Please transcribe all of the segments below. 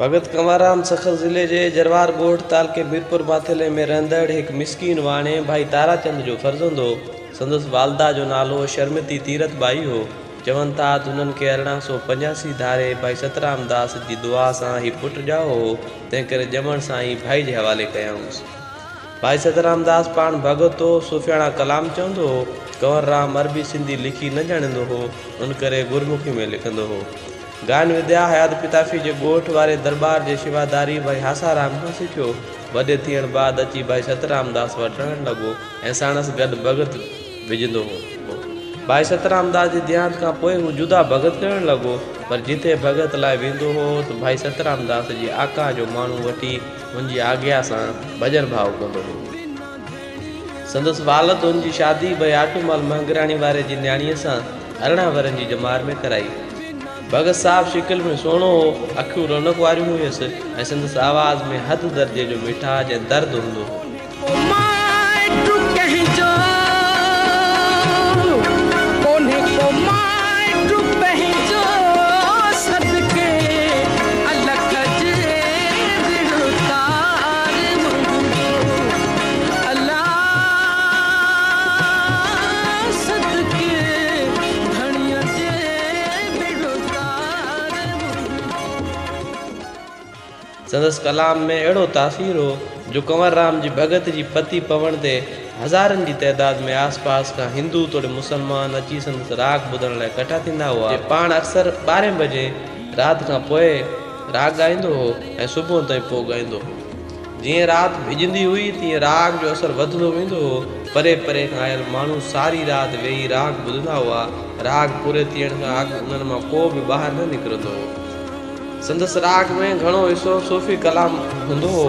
ڀڳت ڪنوررام سکر ضلعي جي جروار ڳوٺ تعلقي ميرپور ماٿيلي ۾ رهندڙ هڪ مسڪين واڻي ڀائي تاراچند جو فرزند هو. سندس والده جو نالو شرمتي تيرٿ ٻائي هو. چون ٿا ته هنن کي ارڙهن سؤ پنجاسي ڌاري ڀائي سترام داس جي دعا سان هي پٽ ڄائو هو، تنهن ڪري ڄمڻ سان ئي ڀائي جي حوالي ڪيائونس. ڀائي سترام داس پاڻ ڀڳت هو، صوفياڻا ڪلام چوندو هو. ڪنوررام عربي سنڌي لکي نه ڄاڻيندو هو، ان ڪري گرمکي ۾ لکندو هو. گان وديا حيات پتافي جي ڳوٺ واري درٻار جي شيواداري ڀائي هاسارام کان سکيو. وڏي ٿيڻ بعد اچي ڀائي سترام داس وٽ رهڻ لڳو ۽ ساڻس گڏ ڀڳت وجهندو هو. ڀائي سترام داس جي ديهانت کان پوء هو جدا ڀڳت ڪرڻ لڳو پر جتي ڀڳت لاء ويندو هو ته ڀائي سترام داس جي آقا جو ماڻهو وٺي هن جي آگيا سان ڀڄن ڀاء ڪندو هو. سندس والد هن جي شادي بياٽو مال مهنگراڻي واري جي نياڻيء سان ارڙهن ورهين جي ڄمار ۾ ڪرائي. ڀڳت صاحب شڪل ۾ سهڻو هو، اکيون رونق واريون هيس ۽ سندس آواز ۾ حد درجي جو مٺاج ۽ درد هوندو هو. سندس ڪلام ۾ اهڙو تاثير هو جو ڪنوررام جي ڀڳت جي پتي پوڻ تي هزارن جي تعداد ۾ آس پاس کان هندو توڙي مسلمان اچي سندس راڳ ٻڌڻ لاء ڪٺا ٿيندا هئا جي پاڻ اڪثر ٻارهين بجي رات کان پوء راڳ ڳائيندو هو ۽ صبح تائين پوء ڳائيندو هو. جيئن رات ڀڄندي هئي تيئن راڳ جو اثر وڌندو ويندو هو. پري پري کان آيل ماڻهو ساري رات ويهي راڳ ٻڌندا هئا. راڳ پوري ٿيڻ کان اڳ انهن مان ڪو به ٻاهر نه نڪرندو هو. سندس راڳ ۾ گهڻو حصو صوفي ڪلام هوندو هو.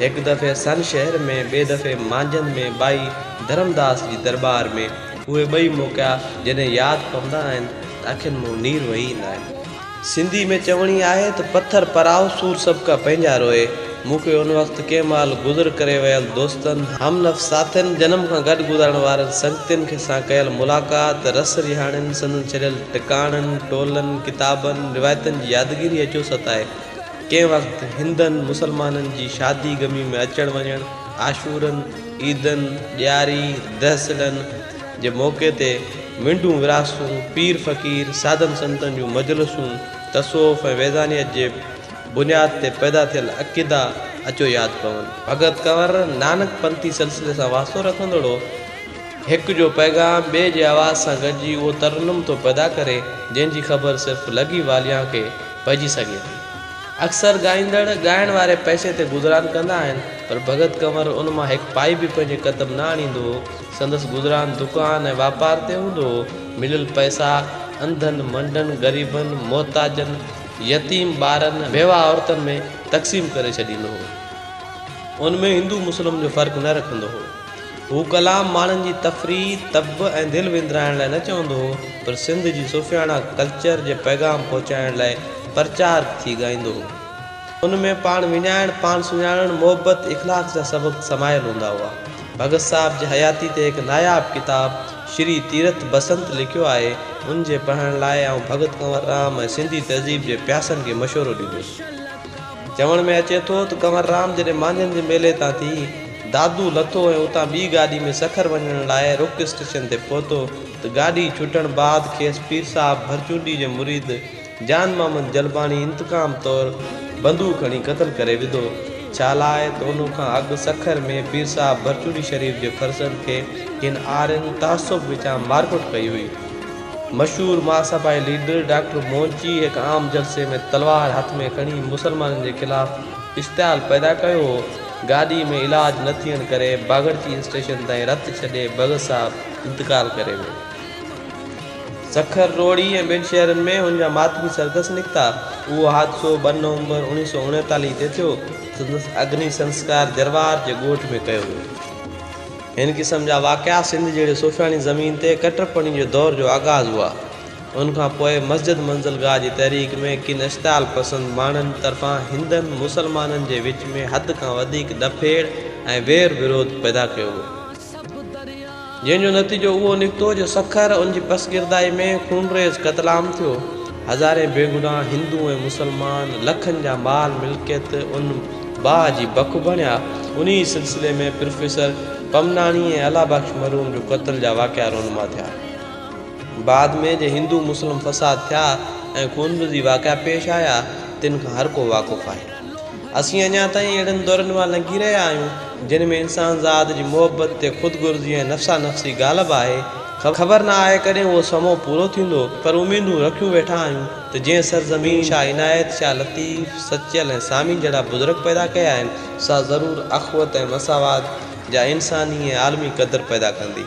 هڪ دفعي سن شهر ۾، ٻئي دفعي مانجهند ۾ ٻائي ڌرمداس جي درٻار ۾، اهي ٻئي موقعا جڏهن ياد پوندا آهن ته اکين مون نير وهي ايندا آهن. سنڌي ۾ چوڻي آهي ته پٿر پرائو سور سڀ ڪا پنهنجا روئي، مون کي ان وقت ڪنهن مهل گذر ڪري ويل دوستن، هم نفس ساٿين، جنم کان گڏ گذارڻ وارن سنگتين کي سان ڪيل ملاقات، رس رهاڻين، سندن ڇڏيل ٽڪاڻن، ٽولن، ڪتابن، روايتن جي يادگيري اچوسٽ آهي، ڪنهن وقت هندن مسلمانن جي شادي غمي ۾ اچڻ وڃڻ، عاشورن، عيدن، ڏياري، دهسلن جي موقعي تي وينڊون ورهاستون، پير فقير، سادن سنتن جون مجلسون، تصوف ۽ ويزانيت جي بنياد تي پيدا ٿيل عقيدا اچو ياد پون. ڀڳت ڪنور نانڪ پنٿي سلسلي سان واسطو رکندڙو هڪ جو پيغام ٻئي جي آواز سان گڏجي اهو ترنم ٿو پيدا ڪري، جنهن جي خبر صرف لڳي واليان کي، پئجي سگهي ٿي. اڪثر ڳائيندڙ ڳائڻ واري پئسي تي گذران ڪندا آهن، پر ڀڳت ڪنور ان مان هڪ پائي به پنهنجي قدم نه آڻيندو هو. سندس گذران دڪان ۽ واپار تي هوندو هو. مليل پئسا انڌن، منڊن، غريبن، محتاجن، يتيم ٻارن، بيواهه عورتن ۾ تقسيم ڪري ڇڏيندو هو. ان ۾ هندو مسلم جو فرق نه رکندو هو. هو ڪلام ماڻهن جي تفريح، طب ۽ دل وندرائڻ لاء نه چوندو هو، پر سنڌ جي صوفياڻا ڪلچر جي پيغام پهچائڻ لاء پرچار ٿي ڳائيندو هو. ان ۾ پاڻ وڃائڻ، پاڻ سڃاڻڻ، محبت، اخلاق جا سبق سمايل هوندا هئا. ڀڳت صاحب جي حياتي تي هڪ ناياب ڪتاب شري تيرٿ بسنت لکيو آهي، ان جي پڙهڻ لاء آئون ڀڳت ڪنور رام ۽ سنڌي تهذيب جي پياسن کي مشورو ڏيندس. چوڻ ۾ اچي ٿو ته ڪنور رام جڏهن مانجهن جي ميلي تان ٿي دادو لٿو ۽ اتان ٻي گاڏي ۾ سکر وڃڻ لاء رڪ اسٽيشن تي پهتو ته گاڏي ڇٽڻ بعد کيس پير صاحب ڀرچونڊي جي مريد جان محمد جلباڻي انتقام طور بندوق هڻي قتل ڪري وڌو ڇا لاء ته ان کان اڳ سکر ۾ پير صاحب ڀرچونڊي شريف جي فرزند کي ڪن آرين تعصب وچان مارڪٽ ڪئي هئي. مشهور مهاسڀائي ليڊر ڊاڪٽر مونچي هڪ عام جلسي ۾ تلوار هٿ ۾ کڻي مسلمانن جي خلاف اشتعال پيدا ڪيو هو. گاڏي ۾ علاج نه ٿيڻ ڪري باگڙچي اسٽيشن تائين رٿ ڇڏي بگس صاحب انتقال ڪري ويو. سکر، روهڙي ۽ ٻين شهرن ۾ هن جا ماتمي سرگس نڪتا. اهو حادثو ٻه نومبر اوڻيهه سؤ اڻيتاليهه تي ٿيو. سندس اگني سنسڪار جروار جي ڳوٺ ۾ ڪيو ويو. هن قسم جا واقعا سنڌ جهڙي صوفياڻي زمين تي ڪٽرپڻي جي دور جو آغاز هئا. ان کان پوء مسجد منزلگاهه جي تحريڪ ۾ ڪن اشتعال پسند ماڻهن طرفان هندن مسلمانن جي وچ ۾ حد کان وڌيڪ ڏڦيڙ ۽ وير وروڌ پيدا ڪيو ويو. جنهن جو نتيجو اهو نڪتو جو سکر ان جي پسگردائي ۾ خونريز قتلام ٿيو. هزارين بيگناهه هندو ۽ مسلمان لکن جا مال ملڪيت ان باهه جي بک بڻيا. انهي سلسلي ۾ پروفيسر پمناڻي ۽ الله بخش مرحوم جو قتل جا واقعا رونما ٿيا. بعد ۾ جي هندو مسلم فساد ٿيا ۽ خونريزي واقعا پيش آيا تن کان هر ڪو واقف آهي. اسين اڃا تائين اهڙن دورن مان لنگهي رهيا آهيون، جن ۾ انسان ذات جي محبت تي خود غرضي ۽ نفسا نفسي غالب آهي. خبر نه آهي ڪڏهن اهو سمو پورو ٿيندو، پر اميدون رکيون ويٺا آهيون ته جنهن سرزمين شاهه عنايت، شاهه لطيف، سچل ۽ سامين جهڙا بزرگ پيدا ڪيا آهن، سا ضرور اخوت ۽ مساوات جا انساني ۽ عالمي قدر پيدا ڪندي.